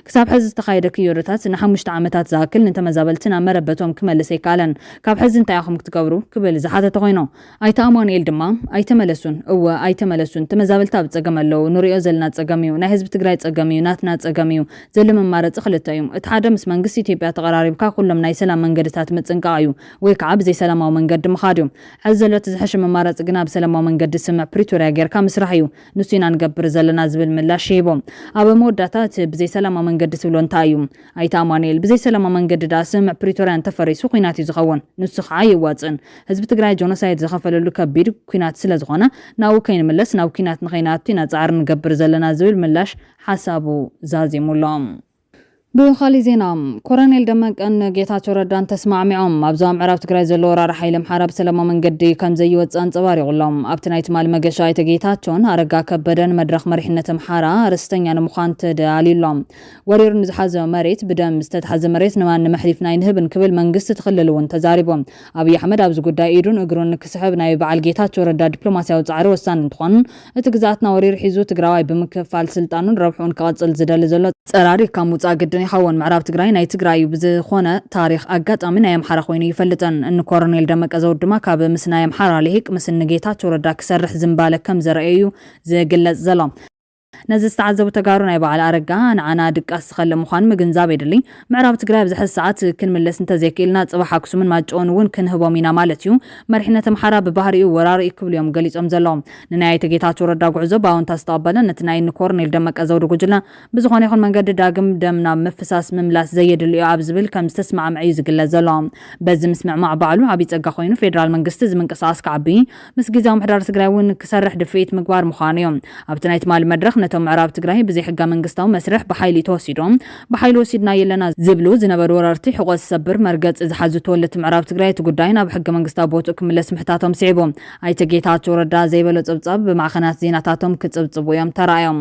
ክሳብ ሕዚ ዝተኻየደ ክዮዶታት ንሓሙሽተ ዓመታት ዝኣክል ንተመዛበልቲ ናብ መረበቶም ክመልስ ኣይከኣለን። ካብ ሕዚ እንታይ ኢኹም ክትገብሩ? ክብል ዝሓተተ ኮይኑ ኣይተ ኣማኑኤል ድማ ኣይተመለሱን እወ ኣይተመለሱን ተመዛበልቲ ኣብ ፀገም ኣለው ንሪኦ ዘለና ፀገም እዩ ናይ ህዝቢ ትግራይ ፀገም እዩ ናትና ፀገም እዩ ዘሎ መማረፂ ክልተ እዩ እቲ ሓደ ምስ መንግስቲ ኢትዮጵያ ተቐራሪብካ ኩሎም ናይ ሰላም መንገድታት ምፅንቃቕ እዩ ወይ ከዓ ብዘይ ሰላማዊ መንገዲ ምኻድ እዩ። ሐዚ ዘሎ እቲ ዝሐሸ መማረፂ ግና ብሰላማዊ መንገዲ ስምዕ ፕሪቶሪያ ገይርካ ምስራሕ እዩ። ንሱ ኢና ንገብር ዘለና ዝብል ምላሽ ሂቡ። ኣብ መወዳእታ እቲ ብዘይ ሰላማዊ መንገዲ ትብሎ እንታይ እዩ? ኣይተ ኣማኑኤል፣ ብዘይ ሰላማዊ መንገዲ ድኣ ስምዕ ፕሪቶሪያ እንተፈሪሱ ኹናት እዩ ዝኸውን። ንሱ ከዓ ኣየዋፅእን። ህዝቢ ትግራይ ጆኖሳይድ ዝኸፈለሉ ከቢድ ኲናት ስለዝኾነ ናብኡ ከይንምለስ ናብ ኲናት ንኸይንኣቱ ኢና ፃዕሪ ንገብር ዘለና ዝብል ምላሽ ሓሳቡ ዛዚሙሎም። ብኻሊእ ዜና ኮረኔል ደመቀን ንጌታቸው ረዳን ተስማዕሚዖም ኣብ ዞባ ምዕራብ ትግራይ ዘሎ ወራሪ ሓይሊ ኣምሓራ ብሰለማዊ መንገዲ ከምዘይወፅእ ኣንፀባሪቑ ኣሎ። ኣብቲ ናይ ትማሊ መገሻ ኣይተ ጌታቸውን ኣረጋ ከበደን መድረኽ መሪሕነት ኣምሓራ ርስተኛ ንምዃን ተደላልዩ ኣሎ። ወሪሩ ንዝሓዞ መሬት ብደም ዝተትሓዘ መሬት ንማንም ኣሕሊፍና ኣይንህብን ክብል መንግስቲ እቲ ክልል እውን ተዛሪቡ። ኣብይ ኣሕመድ ኣብዚ ጉዳይ ኢዱን እግሩን ክስሕብ ናይ በዓል ጌታቸው ረዳ ዲፕሎማሲያዊ ፃዕሪ ወሳኒ እንትኾን እቲ ግዝኣትና ወሪሩ ሒዙ ትግራዋይ ብምክፍፋል ስልጣኑን ረብሕኡን ክቐፅል ዝደሊ ዘሎ ፀራሪግካ ምውፃእ ግድን ይኸውን። ምዕራብ ትግራይ ናይ ትግራይ እዩ። ብዝኾነ ታሪኽ ኣጋጣሚ ናይ ኣምሓራ ኮይኑ እይፈልጥን። እኒ ኮረኔል ደመቀ ዘውዱ ድማ ካብ ምስ ናይ ኣምሓራ ሊሂቅ ምስ እኒ ጌታቸው ረዳ ክሰርሕ ዝምባለ ከም ዘረኣየ እዩ ዝግለፅ ዘሎ። ነዚ ዝተዓዘቡ ተጋሩ ናይ በዓል ኣረጋ ንዓና ድቃስ ዝኸልእ ምዃኑ ምግንዛብ የድሊ። ምዕራብ ትግራይ ኣብዚ ሐዚ ሰዓት ክንምለስ እንተዘይክኢልና ፅባሕ ኣክሱምን ማይጨውን እውን ክንህቦም ኢና ማለት እዩ። መሪሕነት ኣምሓራ ብባህሪኡ ወራሪ እዩ ክብሉ እዮም ገሊፆም ዘለዉ። ንናይ ኣይተ ጌታቸው ረዳ ጉዕዞ ብኣወንታ ዝተቐበለ ነቲ ናይ እኒ ኮርኔል ደመቀ ዘውዱ ጉጅለ ብዝኾነ ይኹን መንገዲ ዳግም ደም ናብ ምፍሳስ ምምላስ ዘየድሊ እዩ ኣብ ዝብል ከምዝተስማዕምዐ እዩ ዝግለፅ ዘሎ። በዚ ምስምዕማዕ ባዕሉ ዓብዪ ፀጋ ኮይኑ ፌዴራል መንግስቲ እዚ ምንቅስቓስ ክዓቢ ምስ ግዝያዊ ምሕዳር ትግራይ እውን ክሰርሕ ድፍኢት ምግባር ምዃኑ እዩ። ኣብቲ ናይ ትማሊ መድረኽ ነቶም ምዕራብ ትግራይ ብዘይሕገመንግስታዊ መስርሕ ብሓይሊ ተወሲዶም ብሓይሊ ወሲድናዮ ኣለና ዝብሉ ዝነበሩ ወረርቲ ሕቖ ዝሰብር መርገፂ ዝሓዙ ተወለድቲ ምዕራብ ትግራይ እቲ ጉዳይ ናብ ሕገመንግስታዊ ቦትኡ ክምለስ ምሕታቶም ስዒቡ ኣይተ ጌታቸው ረዳ ዘይበሎ ፀብፃብ ብማዕኸናት ዜናታቶም ክፅብፅቡ እዮም ተራእዮም።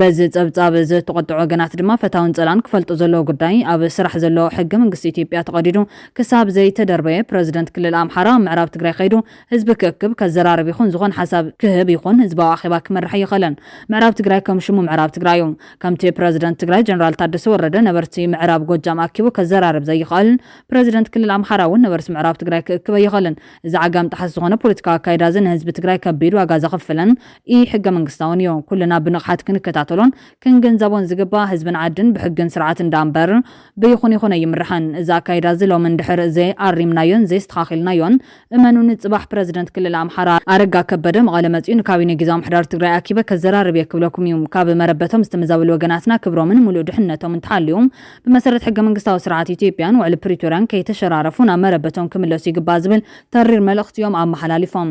በዚ ጸብጻብ እዚ እተቖጥዑ ወገናት ድማ ፈታውን ጸላእን ክፈልጡ ዘለዎ ጉዳይ ኣብ ስራሕ ዘሎ ሕገ መንግስቲ ኢትዮጵያ ተቐዲዱ ክሳብ ዘይተደርበየ ፕረዚደንት ክልል ኣምሓራ ኣብ ምዕራብ ትግራይ ከይዱ ህዝቢ ክእክብ፣ ከዘራርብ ይኹን ዝኾን ሓሳብ ክህብ ይኹን ህዝባዊ ኣኼባ ክመርሕ ኣይኸለን። ምዕራብ ትግራይ ከም ሽሙ ምዕራብ ትግራይ እዩ። ከምቲ ፕረዚደንት ትግራይ ጀነራል ታደሰ ወረደ ነበርቲ ምዕራብ ጎጃም ኣኪቡ ከዘራርብ ዘይኸእል ፕረዚደንት ክልል ኣምሓራ እውን ነበርቲ ምዕራብ ትግራይ ክእክብ ኣይኸእልን። እዚ ዓጋም ጠሓስ ዝኾነ ፖለቲካዊ ኣካይዳ እዚ ንህዝቢ ትግራይ ከቢድ ዋጋ ዘኽፍልን ኢ-ሕገመንግስታውን እዩ። ኩልና ብንቕሓት ክንከታተሎን ክንግንዘቦን ዝግባእ፣ ህዝብን ዓድን ብሕግን ስርዓትን ደኣ እምበር ብይኹን ይኹን ኣይምራሕን። እዚ ኣካይዳ'ዚ ሎሚ እንድሕር ዘይኣሪምናዮን ዘይስተኻኺልናዮን፣ እመኑኒ ጽባሕ ፕረዚደንት ክልል ኣምሓራ ኣረጋ ከበደ መቐለ መጺኡ ንካቢኔ ግዝያዊ ምሕዳር ትግራይ ኣኪበ ከዘራርብ እየ ክብለኩም እዩ። ካብ መረበቶም ዝተመዛበሉ ወገናትና ክብሮምን ምሉእ ድሕንነቶምን ተሓልዩ ብመሰረት ሕገመንግስታዊ ስርዓት ኢትዮጵያን ውዕሊ ፕሪቶርያን ከይተሸራረፉ ናብ መረበቶም ክምለሱ ይግባእ ዝብል ተሪር መልእኽቲ እዮም ኣመሓላሊፎም።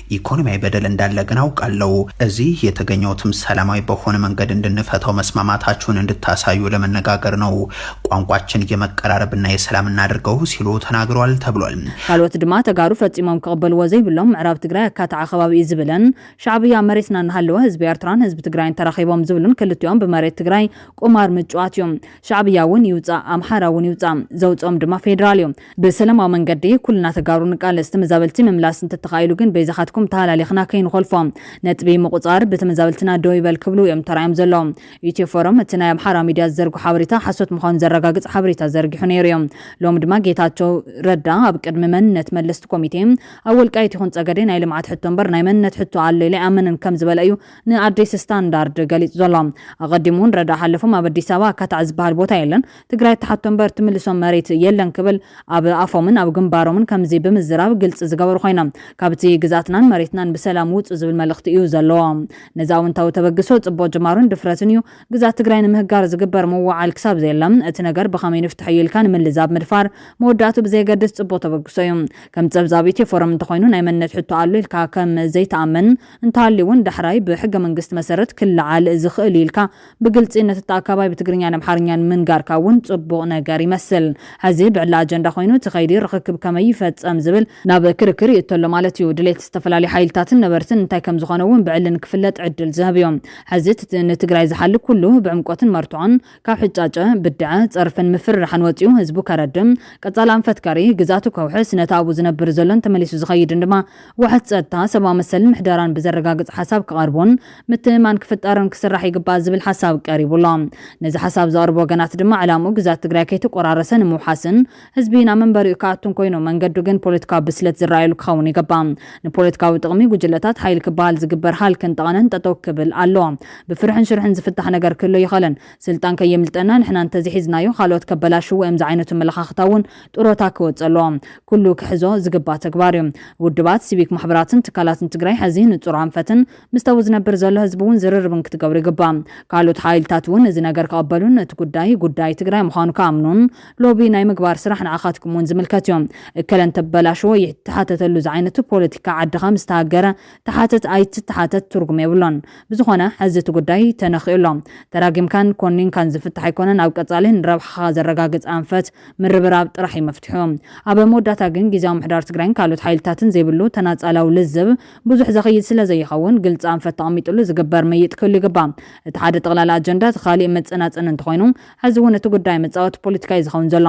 ኢኮኖሚያዊ በደል እንዳለ ግን አውቃለው። እዚህ የተገኘሁትም ሰላማዊ በሆነ መንገድ እንድንፈታው መስማማታችሁን እንድታሳዩ ለመነጋገር ነው። ቋንቋችን የመቀራረብ እና የሰላም እናድርገው ሲሉ ተናግረዋል ተብሏል። ካልኦት ድማ ተጋሩ ፈጺሞም ክቕበልዎ ዘይብሎም ምዕራብ ትግራይ ኣካታዒ ከባቢ እዩ ዝብልን ሻዕብያ መሬትና እናሃለወ ህዝቢ ኤርትራን ህዝቢ ትግራይን ተራኺቦም ዝብሉን ክልቲኦም ብመሬት ትግራይ ቁማር ምጭዋት እዩ። ሻዕብያ እውን ይውጻእ ኣምሓራ እውን ይውጻእ ዘውጽኦም ድማ ፌዴራል እዩ። ብሰለማዊ መንገዲ ኩልና ተጋሩ ንቃለስ ተመዛበልቲ ምምላስ እንተተኻኢሉ ግን በይዛኻትኩም ተሃላሊኽና ከይንኾልፎ ነጥቢ ምቑፃር ብተመዛበልትና ደው ይበል ክብሉ እዮም ተራእዮም ዘለዉ ኢትዮ ፎረም እቲ ናይ ኣምሓራ ሚድያ ዝዘርግሖ ሓበሬታ ሓሶት ምዃኑ ዘረጋግፅ ሓበሬታ ዘርጊሑ ነይሩ እዩ ሎሚ ድማ ጌታቸው ረዳ ኣብ ቅድሚ መንነት መለስቲ ኮሚቴ ኣብ ወልቃይት ይኹን ፀገዴ ናይ ልምዓት ሕቶ እምበር ናይ መንነት ሕቶ ኣሎ ኢለ ኣይኣምንን ከም ዝበለ እዩ ንኣዲስ ስታንዳርድ ገሊፁ ዘሎ ኣቐዲሙ እውን ረዳ ሓለፎም ኣብ ኣዲስ ኣበባ ኣካታዕ ዝበሃል ቦታ የለን ትግራይ ትሓቶ እምበር ትምልሶ መሬት የለን ክብል ኣብ ኣፎምን ኣብ ግንባሮምን ከምዚ ብምዝራብ ግልፂ ዝገበሩ ኮይኖም ካብቲ ግዝኣትናን መሬትናን ብሰላም ውፁ ዝብል መልእኽቲ እዩ ዘለዎም። ነዚ ኣውንታዊ ተበግሶ ፅቡቕ ጅማሮን ድፍረትን እዩ። ግዝኣት ትግራይ ንምህጋር ዝግበር ምውዕዓል ክሳብ ዘየለ እቲ ነገር ብኸመይ ንፍትሐዮ ኢልካ ንምልዛብ ምድፋር መወዳእትኡ ብዘየገድስ ፅቡቕ ተበግሶ እዩ። ከም ፀብፃብ ኢትዮ ፎረም እንተኾይኑ ናይ መንነት ሕቶ ኣሎ ኢልካ ከም ዘይትኣምን እንተሃልዩ እውን ዳሕራይ ብሕገ መንግስቲ መሰረት ክለዓል ዝኽእል እዩ ኢልካ ብግልጺ ነቲ ተኣካባይ ብትግርኛን ኣምሓርኛን ምንጋርካ እውን ጽቡቕ ነገር ይመስል። ሕዚ ብዕላ ኣጀንዳ ኮይኑ እቲ ከይዲ ርኽክብ ከመይ ይፈጸም ዝብል ናብ ክርክር ይእቶ ኣሎ ማለት እዩ። ድሌት ዝተፈላለዩ ሓይልታትን ነበርትን እንታይ ከም ዝኾነ እውን ብዕሊ ንክፍለጥ ዕድል ዝህብ እዩ። ሕዚ እቲ ንትግራይ ዝሓሊ ኩሉ ብዕምቆትን መርትዖን ካብ ሕጫጨ፣ ብድዐ፣ ጸርፍን ምፍርራሕን ወጺኡ ህዝቡ ከረድም፣ ቀጻሊ ኣንፈት ከርኢ፣ ግዝኣቱ ከውሕስ፣ ነቲ ኣብኡ ዝነብር ዘሎን ተመሊሱ ዝኸይድን ድማ ዋሕስ ፀጥታ፣ ሰብኣዊ መሰልን ምሕደራን ብዘረጋግፅ ሓሳብ ክቐርቡን ምትእምማን ክፍጠርን ክስራሕ ይግባእ ዝብል ሓሳብ ቀሪቡ ኣሎ። ነዚ ሓሳብ ዘቕርቡ ወገናት ድማ ዕላምኡ ግዝኣት ትግራይ ከይተቆራረሰ ንምውሓስን ህዝቢ ናብ መንበሪኡ ክኣቱን ኮይኑ መንገዱ ግን ፖለቲካዊ ብስለት ዝረኣየሉ ክኸውን ይግባእ። ንፖለቲካዊ ጥቕሚ ጉጅለታት ሓይሊ ክበሃል ዝግበር ሃልክን ጠቐነን ጠጠው ክብል ኣለዎ። ብፍርሕን ሽርሕን ዝፍታሕ ነገር ክህሉ ኣይኽእልን። ስልጣን ከየምልጠና ንሕና እንተዘይሒዝናዮ ካልኦት ከበላሽውዎ እዮም ዝዓይነቱ ኣመለኻኽታ እውን ጡሮታ ክወፅእ ኣለዎ ኩሉ ክሕዞ ዝግባእ ተግባር እዩ ውድባት ሲቪክ ማሕበራትን ትካላትን ትግራይ ሐዚ ንፁር ኣንፈትን ምስቲ ኣብኡ ዝነብር ዘሎ ህዝቢ እውን ዝርርብን ክትገብሩ ይግባእ ካልኦት ሓይልታት እውን እዚ ነገር ክቐበሉን እቲ ጉዳይ ጉዳይ ትግራይ ምዃኑ ክኣምኑን ሎቢ ናይ ምግባር ስራሕ ንዓኻትኩም እውን ዝምልከት እዩ እከለ እንተበላሸወ ይተሓተተሉ ዝዓይነቱ ፖለቲካ ዓድኻ ምስ ተሃገረ ተሓተት ኣይትተሓተት ትርጉም የብሉን ብዝኾነ ሐዚ እቲ ጉዳይ ተነኺኡ ኣሎ ተራጊምካን ኮኒንካን ዝፍታሕ ኣይኮነን ኣብ ቀፃሊ ንረብሓኻ ዘረጋግፅ ኣንፈት ምርብራብ ጥራሕ እዩ መፍትሑ። ኣብ መወዳእታ ግን ጊዚያዊ ምሕዳር ትግራይን ካልኦት ሓይልታትን ዘይብሉ ተናጻላዊ ልዝብ ብዙሕ ዘኽይድ ስለዘይኸውን ግልጺ ኣንፈት ተቐሚጥሉ ዝግበር ምይይጥ ክህሉ ይግባእ። እቲ ሓደ ጠቕላሊ ኣጀንዳ እቲ ካሊእ መጸናጸኒ እንተኾይኑ ሕዚ እውን እቲ ጉዳይ መጻወቲ ፖለቲካ እዩ ዝኸውን ዘሎ።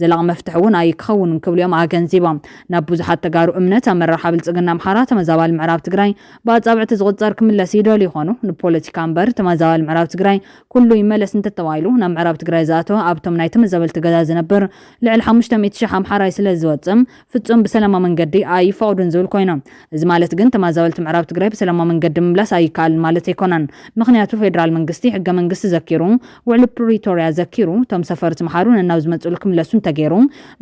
ዘላቒ መፍትሒ እውን ኣይክኸውንን ክብሉ እዮም ኣገንዚቦም። ናብ ብዙሓት ተጋሩ እምነት ኣመራርሓ ብልጽግና ኣምሓራ ተመዛባሊ ምዕራብ ትግራይ ብኣጻብዕቲ ዝቑጸር ክምለስ ይደልዩ ይኾኑ ንፖለቲካ እምበር ተመዛባሊ ምዕራብ ትግራይ ኩሉ ይመለስ እንተተባሂሉ ናብ ምዕራብ ትግራይ ዝኣተወ ኣብቶም ናይ ተመዛበልቲ ገዛ ዝነብር ልዕሊ ሓሙሽተ ሚእቲ ሽሕ ኣምሓራይ ስለዝወፀ ፍፁም ብሰላማዊ መንገዲ ኣይፈቕዱን ዝብል ኮይኑ እዚ ማለት ግን ተማዛበልቲ ምዕራብ ትግራይ ብሰላማዊ መንገዲ ምምላስ ኣይከኣልን ማለት ኣይኮነን ምኽንያቱ ፌደራል መንግስቲ ሕገ መንግስቲ ዘኪሩ ውዕሊ ፕሪቶርያ ዘኪሩ እቶም ሰፈርቲ ምሓሩ ነናብ ዝመፅእሉ ክምለሱ እንተገይሩ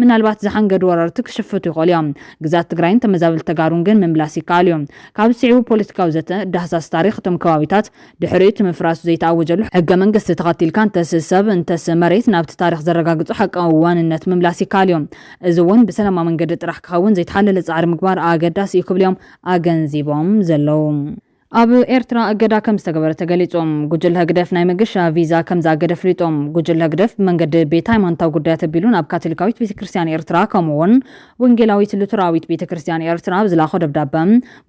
ምናልባት ዝሓንገዱ ወረርቲ ክሽፍቱ ይኽእሉ እዮም ግዛት ትግራይን ተመዛበልቲ ተጋሩን ግን ምምላስ ይከኣል እዩ ካብዚ ስዒቡ ፖለቲካዊ ዘተ ዳህሳስ ታሪኽ እቶም ከባቢታት ድሕሪ እቲ ምፍራሱ ዘይተኣወጀሉ ሕገ መንግስቲ ተኸቲልካ እንተስ ሰብ እንተስ መሬት ናብቲ ታሪኽ ዘረጋግጾ ሓቃዊ ዋንነት ምምላስ ይከኣል እዩ። እዚ እውን ብሰላማዊ መንገዲ ጥራሕ ክኸውን ዘይተሓለለ ጻዕሪ ምግባር ኣገዳሲ እዩ ክብሉ እዮም ኣገንዚቦም ዘለዉ። ኣብ ኤርትራ እገዳ ከም ዝተገበረ ተገሊጹ። ጉጅለ ህግደፍ ናይ መገሻ ቪዛ ከም ዝኣገደ ኣፍሊጡ። ጉጅለ ህግደፍ ብመንገዲ ቤት ሃይማኖታዊ ጉዳያት ኣቢሉ ናብ ካቶሊካዊት ቤተ ክርስትያን ኤርትራ ከምኡ'ውን ወንጌላዊት ሉተራዊት ቤተ ክርስቲያን ኤርትራ ኣብ ዝላኾ ደብዳበ፣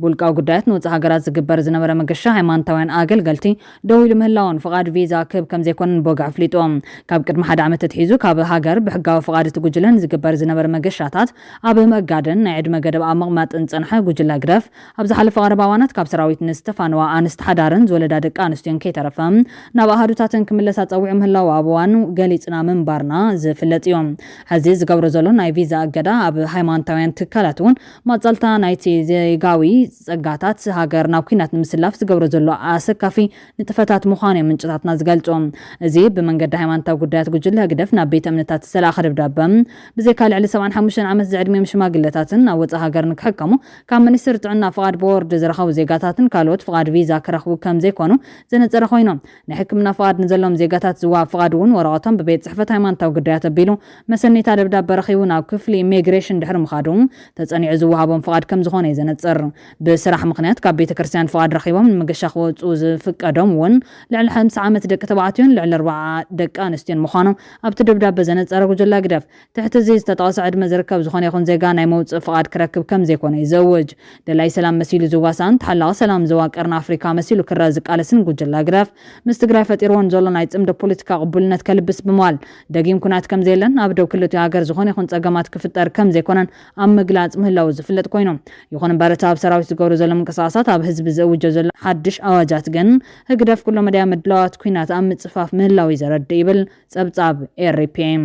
ብውልቃዊ ጉዳያት ንወጻኢ ሃገራት ዝግበር ዝነበረ መገሻ ሃይማኖታውያን ኣገልገልቲ ደው ኢሉ ምህላዉን ፍቓድ ቪዛ ክህብ ከም ዘይኮነን ብወግዒ ኣፍሊጡ። ካብ ቅድሚ ሓደ ዓመት ኣትሒዙ ካብ ሃገር ብሕጋዊ ፍቓድ እቲ ጉጅለ ንዝግበር ዝነበረ መገሻታት ኣብ ምእጋድን ናይ ዕድመ ገደብ ኣብ ምቕማጥን ዝጸንሐ ጉጅለ ህግደፍ፣ ኣብ ዝሓለፈ ቀረባ እዋናት ካብ ሰራዊት ንዝተፋነዋ ኣንስቲ ሓዳርን ዝወለዳ ደቂ ኣንስትዮን ከይተረፈ ናብ ኣሃዱታተን ክምለሳ ጸዊዑ ምህላዉ ኣብ እዋኑ ገሊጽና ምንባርና ዝፍለጥ እዩ። ሕዚ እዚ ዝገብሮ ዘሎ ናይ ቪዛ እገዳ ኣብ ሃይማኖታውያን ትካላት እውን ማጻልታ ናይቲ ዜጋዊ ጸጋታት ሃገር ናብ ኲናት ንምስላፍ ዝገብሮ ዘሎ ኣሰካፊ ንጥፈታት ምዃኑ እዮም ምንጭታትና ዝገልጹ። እዚ ብመንገዲ ሃይማኖታዊ ጉዳያት ጉጅለ ህግደፍ ናብ ቤተ እምነታት ዝተላእከ ደብዳበ ብዘይካ ልዕሊ ሰብዓን ሓሙሽተን ዓመት ዝዕድሚኦም ሽማግለታትን ናብ ወጻኢ ሃገር ንክሕከሙ ካብ ሚኒስትሪ ጥዕና ፍቓድ ቦርድ ዝረኸቡ ዜጋታትን ካልኦት ፍቓድ ቪዛ ክረኽቡ ከም ዘይኮኑ ዘነጸረ ኮይኑ፣ ናይ ሕክምና ፍቓድ ንዘለዎም ዜጋታት ዝወሃብ ፍቓድ እውን ወረቐቶም ብቤት ጽሕፈት ሃይማኖታዊ ግዳያት ኣቢሉ መሰነይታ ደብዳበ ረኺቡ ናብ ክፍሊ ኢሜግሬሽን ድሕሪ ምኻዱ ተጸኒዑ ዝወሃቦም ፍቓድ ከም ዝኾነ'ዩ ዘነጽር። ብስራሕ ምኽንያት ካብ ቤተ ክርስትያን ፍቓድ ረኺቦም ንመገሻ ክወጽኡ ዝፍቀዶም እውን ልዕሊ ሓምሳ ዓመት ደቂ ተባዕትዮን ልዕሊ ኣርብዓ ደቂ ኣንስትዮን ምዃኑ ኣብቲ ደብዳበ ዘነጸረ ጉጅለ ህግደፍ ትሕቲ እዚ ዝተጠቐሰ ዕድመ ዝርከብ ዝኾነ ይኹን ዜጋ ናይ መውጽኢ ፍቓድ ክረክብ ከም ዘይኮነ እዩ ዝእውጅ። ደላይ ሰላም መሲሉ ዝዋሳእን ተሓላቒ ሰላም ዞባ ቀርኒ ኣፍሪካ መሲሉ ክረኣ ዝቃለስን ጉጅለ ህግደፍ ምስ ትግራይ ፈጢርዎ ንዘሎ ናይ ጽምዶ ፖለቲካ ቅቡልነት ከልብስ ብምባል ደጊም ኩናት ከም ዘየለን ኣብ ዶብ ክልቲኡ ሃገር ዝኾነ ይኹን ጸገማት ክፍጠር ከም ዘይኮነን ኣብ ምግላጽ ምህላዉ ዝፍለጥ ኮይኑ ይኹን እምበር እቲ ኣብ ሰራዊት ዝገብሮ ዘሎ ምንቅስቓሳት ኣብ ህዝቢ ዝእውጆ ዘሎ ሓድሽ ኣዋጃት ግን ህግደፍ ኩለመዳያዊ ምድላዋት ኩናት ኣብ ምጽፋፍ ምህላዉ እዩ ዘረድእ ይብል ጸብጻብ ኤሪፒኤም።